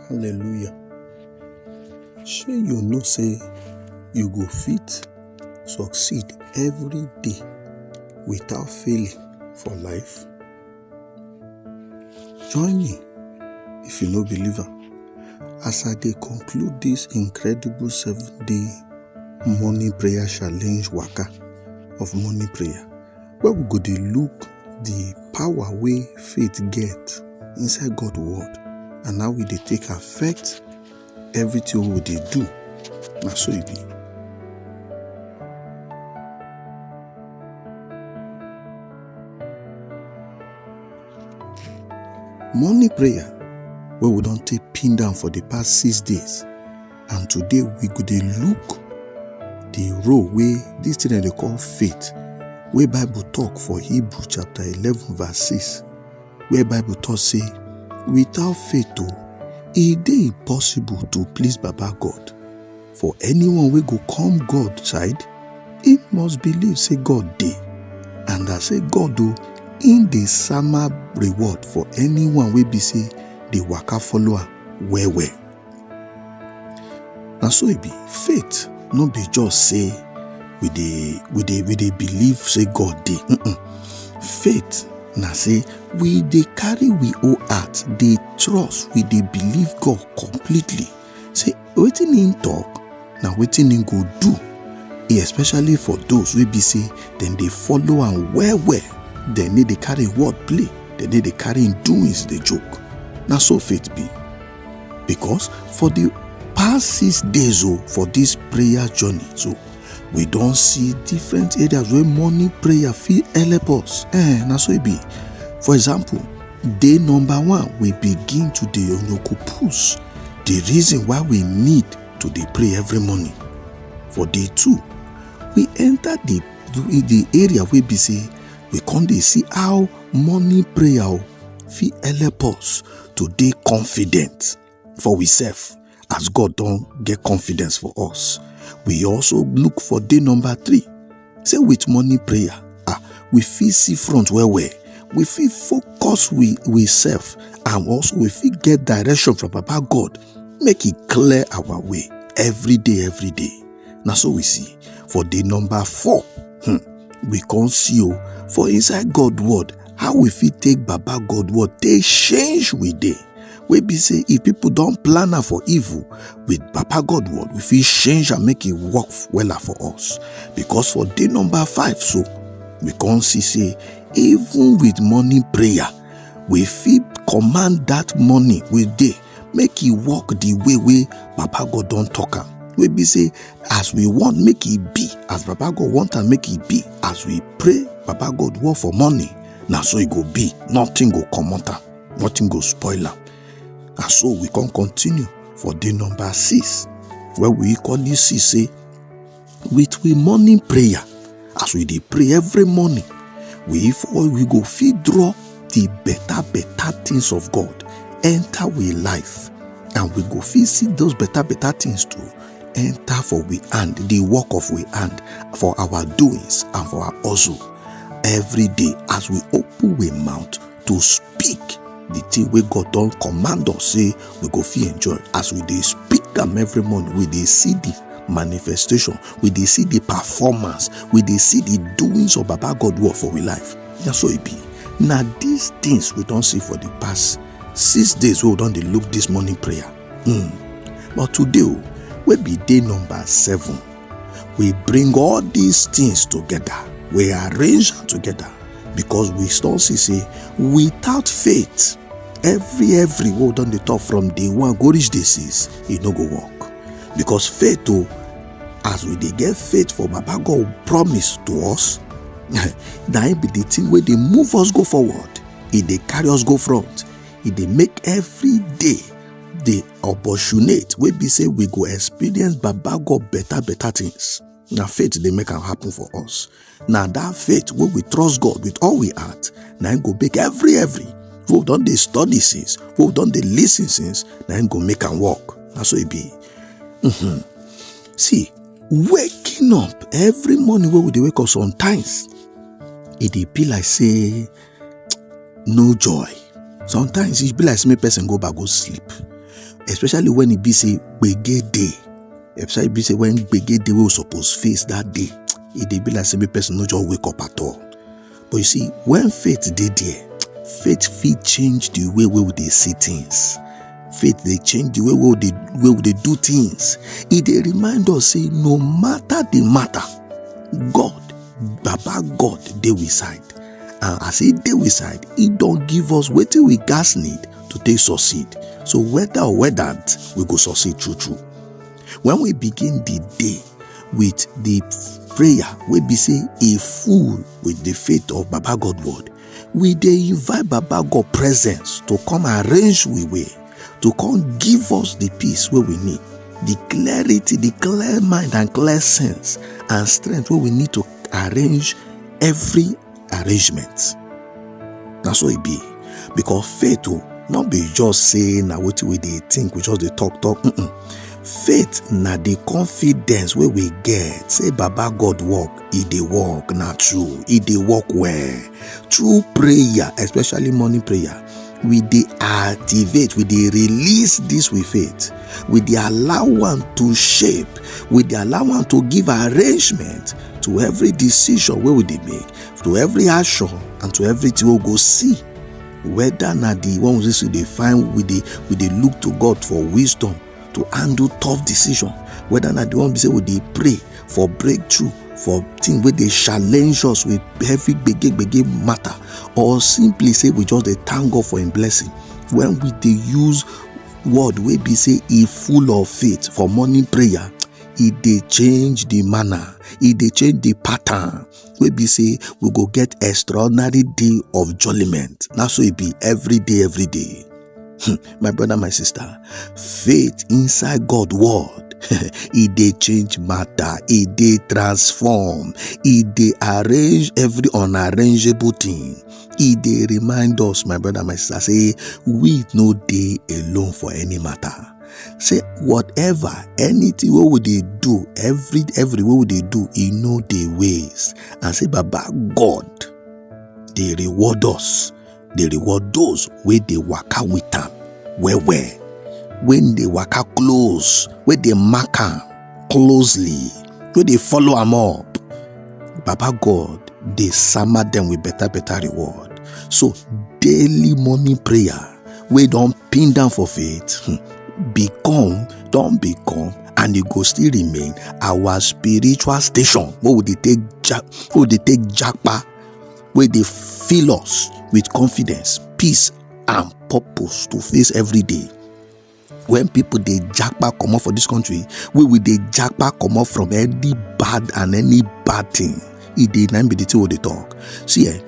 Hallelujah. Shey you know say you go fit succeed every day without failing for life? Join me if you no believe am as I dey conclude this incredible seven day morning prayer challenge waka of morning prayer. where we go dey look the power wey faith get inside God word and how e dey take affect everything wey we dey do. Na so e be. Morning prayer wey we don take pin down for the past six days and today we go dey look the role wey this thing dem dey call faith wey bible talk for hebrew chapter eleven verse six where bible talk say without faith o e dey impossible to please baba god for anyone wey go come god side he must believe say god dey and as say god o im dey sama reward for anyone wey be say dey waka follow am well well na so e be faith no be just say we dey we dey we dey believe say god dey mm-mm. faith na say we dey carry we whole heart dey trust we dey believe god completely say wetin him talk na wetin him go do e especially for those wey be say dem dey follow am well well dem no dey carry word play dem no dey carry him doings dey joke na so faith be because for the past six days o oh, for this prayer journey so we don see different areas wey morning prayer fit help us eh na so e be for example day number one we begin to dey onokopus the reason why we need to dey pray every morning for day two we enter the the area wey be say we come dey see how morning prayer oh, fit help us to dey confident for we self as God don get confidence for us. We also look for day number three. Say with morning prayer, ah, we fit see front well well. We fit focus we we self and also we fit get direction from Papa God. Make it clear our way every day, every day. Now so we see for day number four. Hmm, we can see you oh, for inside God word how we fit take baba god word take change we dey wey be say if people don plan am for evil with baba god word we fit change am make e work wella for us because for day number five so we come see say even with morning prayer we fit command that morning we dey make e work the way wey papa god don talk am wey be say as we want make e be as papa god want am make e be as we pray papa god work for morning na so e go be nothing go comot am nothing go spoil am na so we come continue for day number six wey we equally see say with we morning prayer as we dey pray every morning we for we go fit draw the better better things of god enter we life and we go fit see those better better things too enter for we hand the work of we hand for our doings and for our hustle every day as we open we mouth to speak the thing wey god don command us say we go fit enjoy as we dey speak am every morning we dey see the manifestation we dey see the performance we dey see the doings of baba god work for we life na so e be na these things we don see for the past six days wey we don dey look this morning prayer mm. but today o oh, wey be day number seven We bring all these things together. We arrange them together because we still see say without faith, every every word on the top from day one go reach this is it no go work because faith oh, as we dey get faith for baba god promise to us na im be the thing wey dey move us go forward e dey carry us go front e dey make every day dey opportunate wey be say we go experience baba god better better things na faith dey make am happen for us na that faith wey we trust god with all we heart na im go make every every wey we don dey study since wey we don dey lis ten since na im go make am work na so e be mm-hmm. see waking up every morning wey we dey wake up sometimes e dey be like say no joy sometimes e be like say make person go back go sleep especially when e be say gbege dey especially be say when gbege dey wey we suppose face that day e dey be like say make person no just wake up at all but you see when faith dey there faith fit change the way wey we dey see things faith dey change the way wey we dey wey we dey do things e dey remind us say no matter the matter god baba god dey we side and as e dey we side e don give us wetin we gas need to take succeed so whether or whether we go succeed true true when we begin the day with the prayer wey be say e full with the faith of baba god word we dey invite baba god presence to come arrange we way to come give us the peace wey we need the clarity the clear mind and clear sense and strength wey we need to arrange every arrangement na so e be because faith o no be just say na wetin we dey think we just dey talk talk mm -mm. faith na the confidence wey we get say baba god work e dey work na true e dey work well through prayer especially morning prayer we dey activate we dey release this with faith we dey allow am to shape we dey allow am to give arrangement to every decision wey we dey make to every action and to everything wey we go see whether na the one wey we dey find we dey we dey look to god for wisdom to handle tough decision whether na the one be say we dey pray for breakthrough for thing wey dey challenge us with heavy gbege gbege matter or simply say we just dey thank god for im blessing when we dey use word wey be say e full of faith for morning prayer e dey change the manner e dey change the pattern wey be say we go get extraordinary day of judgment na so e be every day every day Hmm, my brother, my sister, faith inside God word e dey change matter e dey transform e dey arrange every unarrangeable thing e dey remind us my brother my sister say we no dey alone for any matter say whatever anything wey we dey do every every wey we dey do e no dey waste and say baba god dey reward us dey reward those wey dey waka with am well well wey dey waka close wey dey mark am closely wey dey follow am up baba god dey sama dem with better better reward so daily morning prayer wey don pin down for faith hmm, become don become and e go still remain our spiritual station wey we dey take japa wey dey fill us with confidence, peace and purpose to face every day. When people dey japa comot for this country, we will dey japa comot from any bad and any bad thing. E dey na be the thing we dey talk. See eh,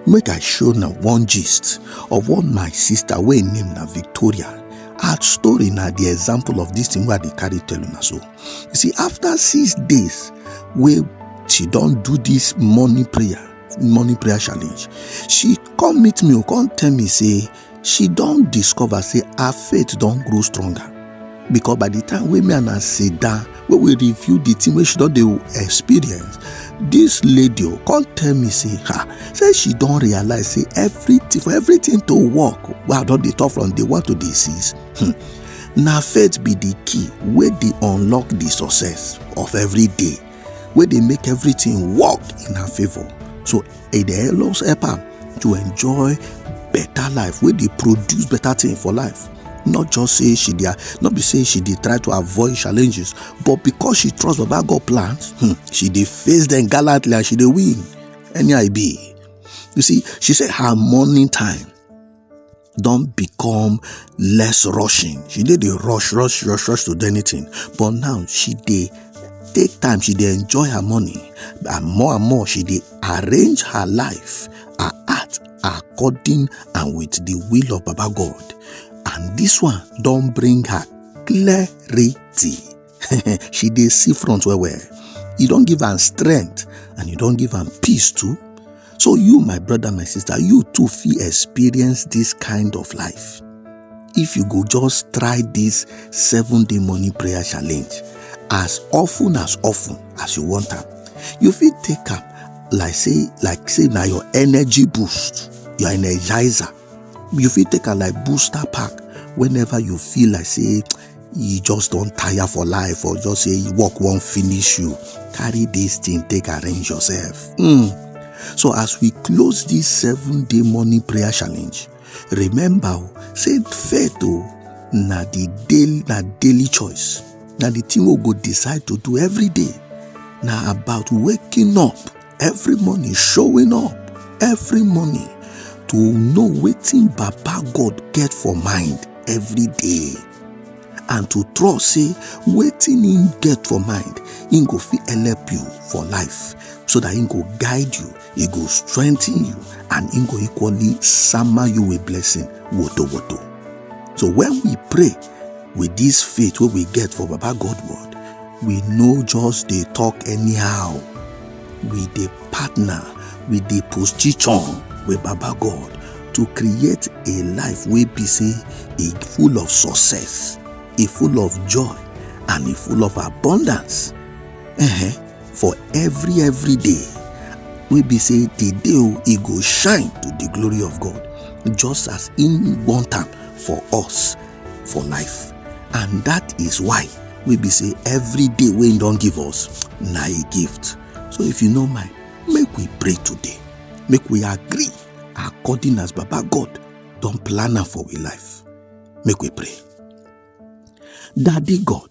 make I show na one gist of what my sister wey name na Victoria. Her story na the example of this thing wey I dey carry tell una so. you see after six days wey she don do this morning prayer morning prayer challenge she come meet me come tell me say she don discover say her faith don grow stronger because by the time wey me and her sit down wey we review the thing wey she don dey experience this lady o come tell me say ha say she don realize say everything for everything to work wey i don dey talk from day one to day six hmm, na faith be the key wey dey unlock the success of every day wey dey make everything work in her favour so e dey always help am to enjoy better life wey dey produce better thing for life not just say she dey not be say she dey try to avoid challenges but because she trust baba god plans hmm, she dey face them gallantly and she dey win any i be you see she say her morning time don become less rushing she dey dey rush rush rush rush to do anything but now she dey take time she dey enjoy her money and more and more she dey arrange her life her heart according and with the will of baba god and this one don bring her clarity she dey see front well well you don give am strength and you don give am peace too so you my brother my sister you too fit experience this kind of life if you go just try this seven day morning prayer challenge as often as often as you want am you fit take am like say like say na your energy boost your energizer you fit take am like booster pack whenever you feel like say you just don tire for life or just say work wan finish you carry this thing take arrange yourself mm. so as we close this seven day morning prayer challenge remember o oh, say faith o oh, na the daily na daily choice na the thing we go decide to do every day na about waking up every morning showing up every morning to know wetin baba god get for mind every day and to trust say wetin him get for mind him go fit help you for life so that he go guide you he go strengthen you and he go equally summer you with blessing woto woto so when we pray with this faith wey we get for baba god word we no just dey talk anyhow we dey partner we dey position with baba god to create a life wey be say e full of success e full of joy and e full of abundance uh-huh. for every every day wey be say the day o e go shine to the glory of god just as im want am for us for life and that is why we be say every day wey him don give us na a gift so if you no mind make we pray today make we agree according as baba god don plan am for we life make we pray daddy god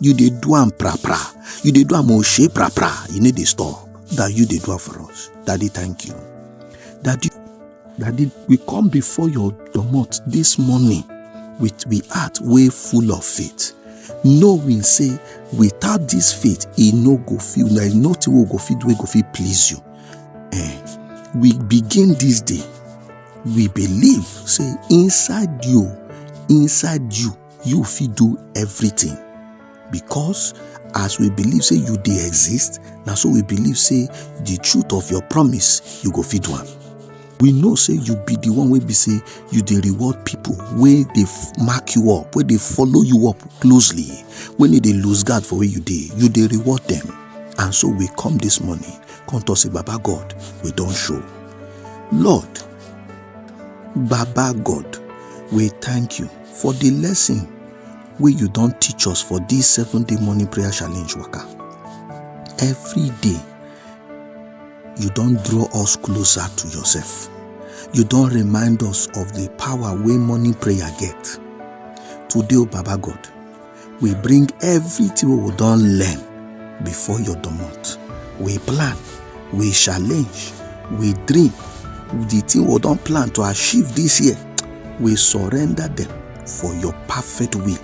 you dey do am pra pra you dey do am oshe pra pra you no dey stop that you dey do am for us daddy thank you daddy daddy we come before your domot this morning with we heart wey full of faith knowing say without this faith e no go fit there is nothing wey go fit do wey go fit please you eh we begin this day we believe say inside you inside you you fit do everything because as we believe say you dey exist na so we believe say the truth of your promise you go fit do am we know say you be the one wey be say you dey reward people wey dey mark you up wey dey follow you up closely when e dey lose guard for where you dey you dey reward them and so we come this morning come talk say baba god we don show lord baba god we thank you For the lesson wey you don teach us for this seven day morning prayer challenge waka, every day you don draw us closer to yourself. You don remind us of the power wey morning prayer get. Today, O Baba God, we bring everything wey we don learn before your domot we plan we challenge we dream the thing we don plan to achieve this year we surrender them for your perfect will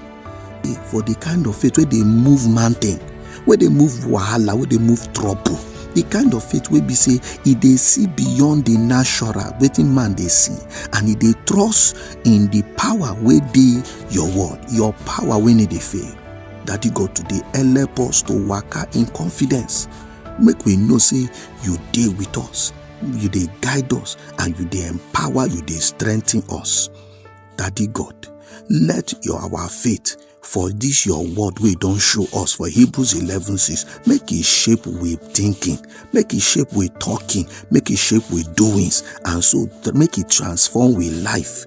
eh, for the kind of faith wey dey move mountain wey dey move wahala wey dey move trouble the kind of faith wey be say e dey see beyond the natural wetin man dey see and e dey trust in the power wey dey Your word, your power wey no dey fail. Daddy God, today help us to waka in confidence. Make we know say you dey with us, you dey guide us, and you dey empower, you dey strengthen us. Daddy God, let your our faith for this your word wey don show us for hebrews 11 6 make e shape we thinking make e shape we talking make e shape we doings and so make e transform we life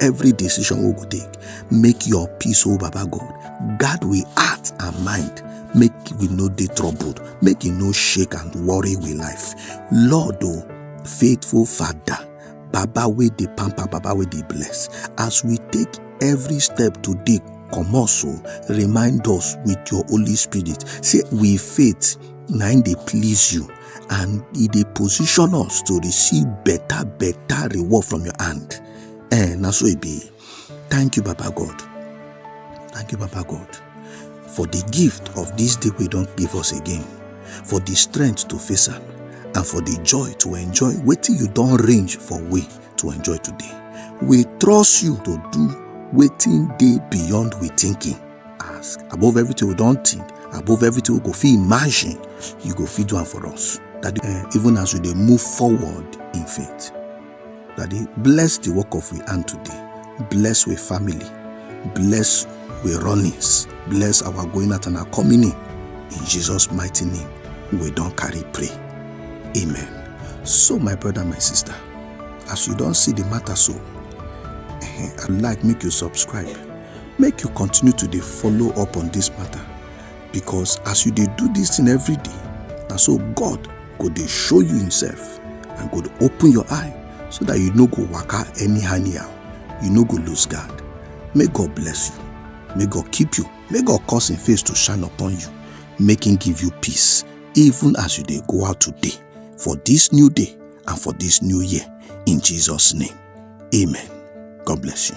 every decision we go take make your peace oh baba god guard we heart and mind make we no dey troubled make e no shake and worry we life lord o oh, faithful father baba wey dey pamper baba wey dey bless as we take every step today comot so oh, remind us with your holy spirit say we faith na im dey please you and e dey position us to receive better better reward from your hand Eh, na so e be. Thank you, Baba God. Thank you, Baba God, for the gift of this day we don't give us again, for the strength to face am, and for the joy to enjoy wetin you don arrange for we to enjoy today. We trust you to do wetin dey beyond we thinking. Ask above everything we don think, above everything we go fit imagine, you go fit do am for us. That eh, even as we dey move forward in faith. Daddy, bless the work of we hand today. Bless we family. Bless we runnings. Bless our going out and our coming in. In Jesus' mighty name, we don't carry pray. Amen. So, my brother, my sister, as you don't see the matter so, eh, I'd like make you subscribe. Make you continue to dey follow up on this matter. because as you dey do this thing every day na so god go dey show you himself and go dey open your eye so that you no go waka anyhow anyhow you no go lose guard may god bless you may god keep you may god cause him face to shine upon you make him give you peace even as you dey go out today for this new day and for this new year in jesus name amen god bless you